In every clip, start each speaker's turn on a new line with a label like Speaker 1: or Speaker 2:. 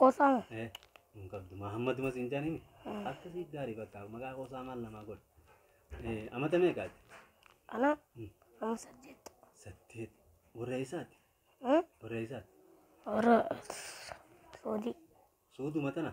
Speaker 1: Qosaa.
Speaker 2: Eh, hin
Speaker 1: qabdu. Mahammaduma siin jaaniin. Akkasii gaarii bakka maqaa qosaa maal namaa godha. Eh, amata meeqaati? Ana.
Speaker 2: Amma saddeet. Saddeet.
Speaker 1: Warra eessaati? Hmm? Warra eessaati? Warra.
Speaker 2: Soodii. Suuduma
Speaker 1: tana.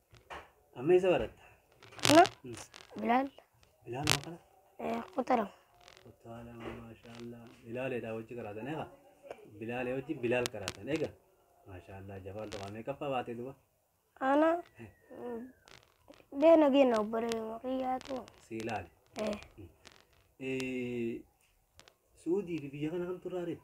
Speaker 1: Amma isa baratta. Kana
Speaker 2: bilaal Bilaal moo
Speaker 1: kana? eh, kutaa lama.
Speaker 2: Kutaa
Speaker 1: lama maashaallah. Bilaaleedha hojii karaatan eega. Bilaalee hojii bilaal karaatan eega. Maashaallah jabaan tokko amee kaffaa baatee duba. Ana
Speaker 2: mm, beena geena obbaree maqiyyaatu. Si ilaale. Eh,
Speaker 1: Eh,
Speaker 2: Suudii
Speaker 1: fi biyya kana kamtu irraa reefu?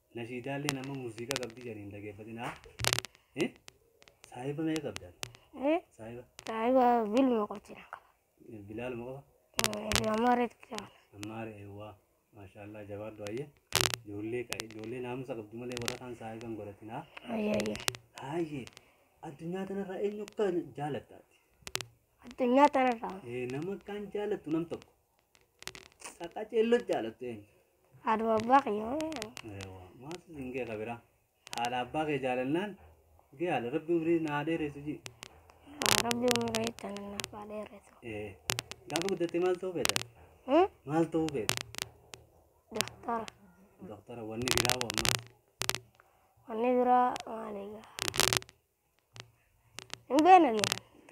Speaker 1: Nashiidaallee nama muuziqaa qabdi jedhanii hin dhageeffatinaa. Eh? Saahiba meeqa qabdan? Eh? Saahiba
Speaker 2: Saahiba
Speaker 1: bilma
Speaker 2: qochina qaba. eh, bilaaluma
Speaker 1: qaba. Ibn Amaareet
Speaker 2: qaba. Ammaare eewwaa.
Speaker 1: Maashaallah jabaadhu ayyee. Ijoollee qa'i ijoollee naamusa qabdu malee warra kaan saahiba hin godhatinaa. Ayya ayya.
Speaker 2: Haayye
Speaker 1: addunyaa kanarraa eenyu akka jaalattaati. Addunyaa
Speaker 2: tanarraa. Eh, Nama akkaan
Speaker 1: jaalattu nam tokko. Akka ceelloo jaalattu eenyu? Haadha abbaa
Speaker 2: kiyyaa Eewwa,
Speaker 1: maatu siin gee kabira. Haadha abbaa kee jaalannaan gee haala rabbi umrii naa dheeressu jii. rabbi
Speaker 2: umrii ittiin naaf haa dheeressu. Ee, gaafa
Speaker 1: guddattee maal ta'uu feeta? Hmm? Maal ta'uu feeta?
Speaker 2: Doktora Doktora
Speaker 1: wanni biraa hoo ammaa?
Speaker 2: wanni biraa maali egaa? Hin beekne ni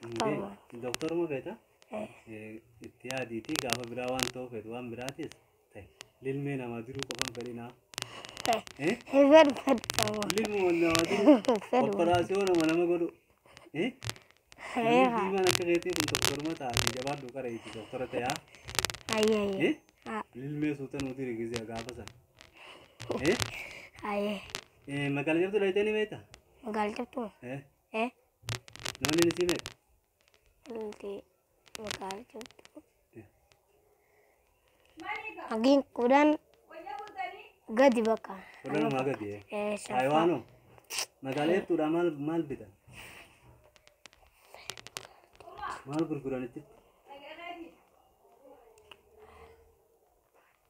Speaker 2: Doktoruma. Doktoruma feeta
Speaker 1: Eh, eh,
Speaker 2: itti yaadiitii
Speaker 1: gaafa biraa waan ta'uu feetu waan biraatis ta'e lilmee namaa jiruu qofan fedhinaa. eh, Eh?
Speaker 2: Hin fedhu fedhu sammuu. Lilmuma namaa jiruu
Speaker 1: Hin fedhu. operaasiyoo nama nama godhu. Eh? Namni Eegaa. diimaan akka keetii kun doktoruma taate
Speaker 2: jabaadhu
Speaker 1: qara itti doktora ta'aa. Ayyee ayyee. Eh?
Speaker 2: Ah, Lilmee suuta
Speaker 1: nuti rigizee gaafa sana. Eh? Ayyee. Eh, Magaalaa jirtu dhayitanii beektaa? Magaal cabtuu.
Speaker 2: Eh? Eh?
Speaker 1: Namni ni siime? Ilti
Speaker 2: magaal cabtuu. Hagiin kudhan gadi bakka. Kudhan maa gadi
Speaker 1: eh? Eh, shaffaa. Taayiwaano? Magaalaa jechuudha maal maal bitan? Maal gurguran itti?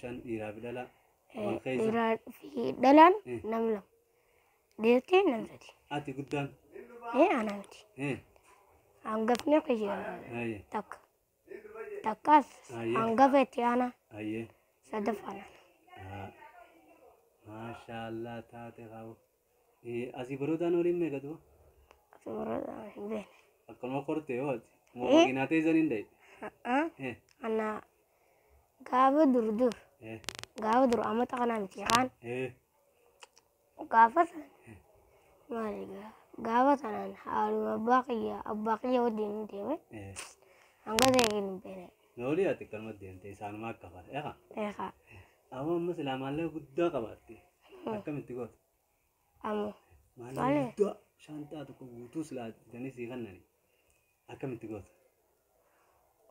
Speaker 2: Shan
Speaker 1: dhiiraa fi dhalaa. Eh, Wal
Speaker 2: keessa. Dhiiraa fi dhalaan Eh. nam lama. Deettee nam sadi. Ati guddaan.
Speaker 1: Ee ana miti.
Speaker 2: Eh, Hangafni akka jedhamu Ayye. takka. Takkaas Ayye. hangafa itti aanaa Ayye. sadaffaan ana. Ah.
Speaker 1: Maashaallah taate qabu. Eh, Asii barootaan waliin meeqa du'a? Asii barootaan
Speaker 2: hin beekne. Akkanuma kortee yoo
Speaker 1: ati. Moo Eh. makiinaa teessan hin dhayi. Haa. Eh, Ana
Speaker 2: gaafa dur dur eh, gaafa dur amata kana miti kaan eh. gaafa san maali gaa- gaafa sanaan haaluma abbaa kiyya abbaa kiyya wajjin hin deeme Eh, hanga ta'e hin beekne. Noolii ati akkanuma
Speaker 1: deemte isaanuma akka fara. Eegaa. Eegaa. Amoo amma silaa maallaqa guddaa qabaatte. Akkamitti goota? Amoo. Maallaqa Maali? guddaa shaanxaa tokko guutuu silaa bitanii sii kennani. Akkamitti goota?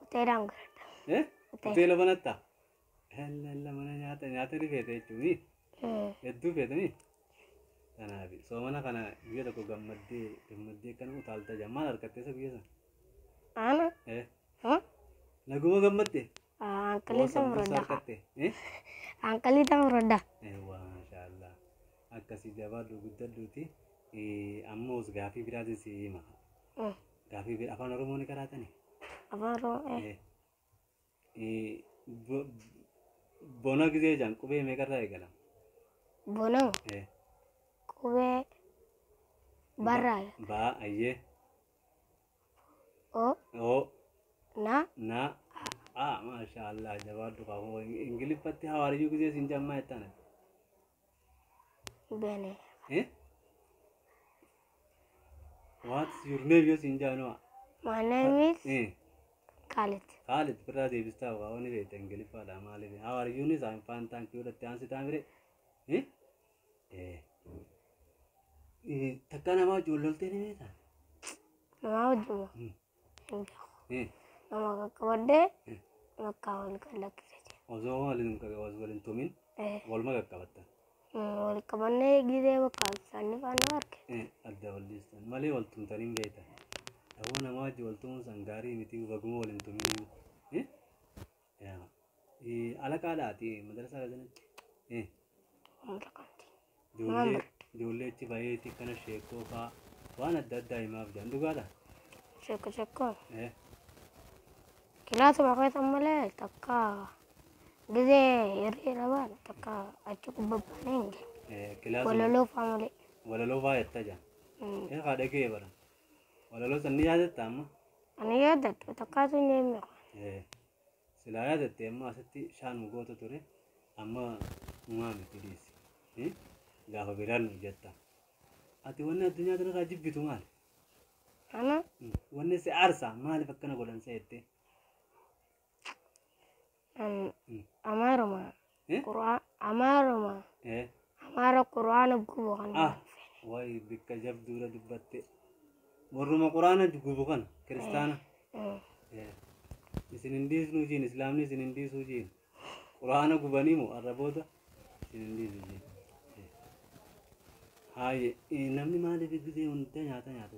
Speaker 2: Hoteelaan godhadha. Eh? Hoteela. Hoteela banattaa?
Speaker 1: Hellella mana nyaata nyaata ni feete jechuuni. Mm. Hedduu feetanii? Kanaaf soomana kana guyyaa tokko gammaddee gammaddee kana utaalta jaa maal harkattee isa guyyaa sana? Ana. Eh? Huh?
Speaker 2: Naguma
Speaker 1: gammadde? Ah, Anqalii Woo
Speaker 2: sambuusaa sambuusaa fudhadha. argatte. Eh? Anqalii tan fudhadha. Eewwa, maashaallah.
Speaker 1: Akkasii jabaadhu guddadhuuti. Eh, Ammoo gaafii biraatiin si hima. Mm. Gaafii bira afaan Oromoo ni qaraatani? Afaan Oromoo.
Speaker 2: eh, Eh. Eh,
Speaker 1: bo- Bona gizee jaan qubee meeqarraa eegalama? Bonoo.
Speaker 2: Eh. Qubee. Barraa. Baa
Speaker 1: ayyee. oo
Speaker 2: oo na na a
Speaker 1: maashaallah jabaadhu qabu ingiliffatti hawaariyyuu gisee siin jammaa jettana
Speaker 2: bene eh
Speaker 1: what's your name yoo siin jaanoo my name is
Speaker 2: eh Khalid Khalid birraa
Speaker 1: deebistaa waa wani beekta ingiliffaadha maaliif hawaariyyuunis I'm fine thank you dhatti aansi taamire eh Takka namaa wajjin wal loltee ni beektaa? Namaa
Speaker 2: wajjin moo? Hin beeku. Nama qaqqabadhee bakka wal qallakkise jira.
Speaker 1: Osoo waliin waliin tumin waluma qaqqabattan. Wal
Speaker 2: qabannee gisee bakka isaanii faana arge. Adda wal dhiistan
Speaker 1: malee wal tumtanii hin beektan. Ta'uu namaa wajjin wal tumuun san gaarii miti baguma waliin tumin. yaa ee alaqaa laati madrasaa gazinatti ee Hunda kanti. ijoollee ijoollee achi baheeti kana sheekoo faa waan adda addaa himaaf jedhan dhugaadha Shakka shakka.
Speaker 2: ee Kilaasa bakeessa malee takka gizee hirree labaan takka achi kubbabbaan hin geenye. ee kilaasa
Speaker 1: Walaloo faa
Speaker 2: malee. walaloo faa yattaa
Speaker 1: jedhan Mm. ee haa dhagee bara Walaloo san ni yaadatta amma? Ani yaadadhu
Speaker 2: takkaatu hin eemne kun. Eh,
Speaker 1: Silaa yaadatte amma asitti shaanuma goota ture amma humaa miti dhiisi. Eh, Gaafa biraan nu jetta. Ati wanni addunyaa tanarraa jibbitu maali? Ana
Speaker 2: Mm. Wanni si
Speaker 1: aarsa maaliif akkana godhan seettee? Am-
Speaker 2: Amaaruma. Eh? Qur'aa- Amaaruma. Eh. Amaara qur'aana gubu kan. Ah. Wayi bikka
Speaker 1: jabduudha dubbatte. Warruma quraana gubu kana kiristaana. Mm. Eh. Isin hin dhiisnu jiin islaamni isin hin dhiisuu jiin. Quraana gubanii moo arraboota isin hin dhiisu jiin. Eh. Haayye eh, namni maaliif gizee hunda nyaata nyaata?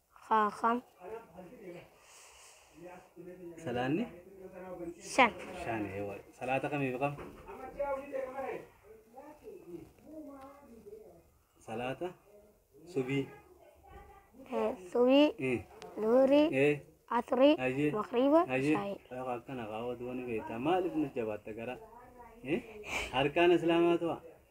Speaker 2: Kaakam.
Speaker 1: Salaanni Shan.
Speaker 2: shan eewwa.
Speaker 1: Salaata kamiif kam? Salaata subii. Eh, Subii.
Speaker 2: Eh, Duhurii. eh, Asrii. Hayyee. Makriiba.
Speaker 1: hayyee. Shaayii.
Speaker 2: Lafa
Speaker 1: akkana
Speaker 2: kaawwatu wani
Speaker 1: beektaa maaliif nu jabaatta gara? Eh, harkaan islaamaa tu'a.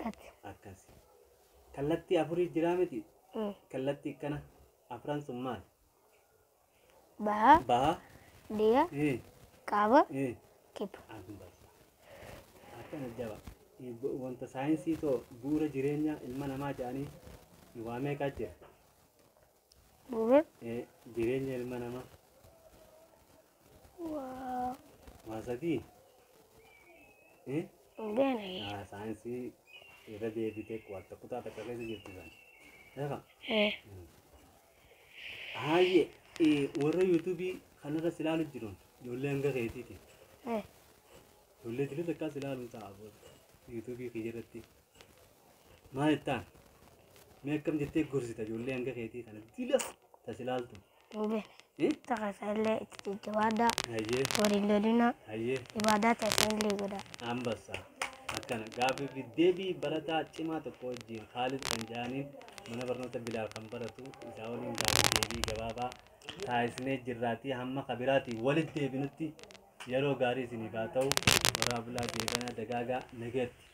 Speaker 1: gati.
Speaker 2: akkasi
Speaker 1: kallattii afurii jiraa miti Mm. kallattii kana afran sun maal
Speaker 2: Baha, baha
Speaker 1: dhiya, eh,
Speaker 2: kaaba, eh. kibba.
Speaker 1: akkana jaba wanta saayinsii too bu'uura jireenyaa ilma namaa jedhanii waa meeqaa jira
Speaker 2: Bu'uura Eh,
Speaker 1: Jireenya ilma namaa.
Speaker 2: waa Waa sadii.
Speaker 1: Eh? hin
Speaker 2: beekne. Ah, Saayinsii
Speaker 1: irra deebitee qo'atta kutaa takka keessa jirti sana. Lafa. Eh, Haayye eh, warra yuutuubii kanarra si ilaalu jiruun ijoollee hanga keetiiti. eh, Ijoollee jireenya takkaa si ilaaluun ta'a booda. Yuutuubii kiyya irratti. Maal ittaan? Mee akkam jettee gorsita ijoollee hanga keetii kana dilas tasi laaltu. Ube. Eh?
Speaker 2: Taka sallee itti jajjabaadhaa. Hayyee Waliin
Speaker 1: lolina.
Speaker 2: hayyee Ibaadaa
Speaker 1: taasisan illee
Speaker 2: godhaa. ambassa
Speaker 1: akkana gaafii fi deebii barataa cimaa tokko wajjin Kaalid kan jedhaniin mana barnoota Bilaal kan baratu isaa waliin gaafii deebii gabaabaa taasisnee jirraatii hamma kabiraatii walitti deebinutti yeroo gaarii isiniif haa ta'u warraa bulaa deebanaa dagaagaa nageetti.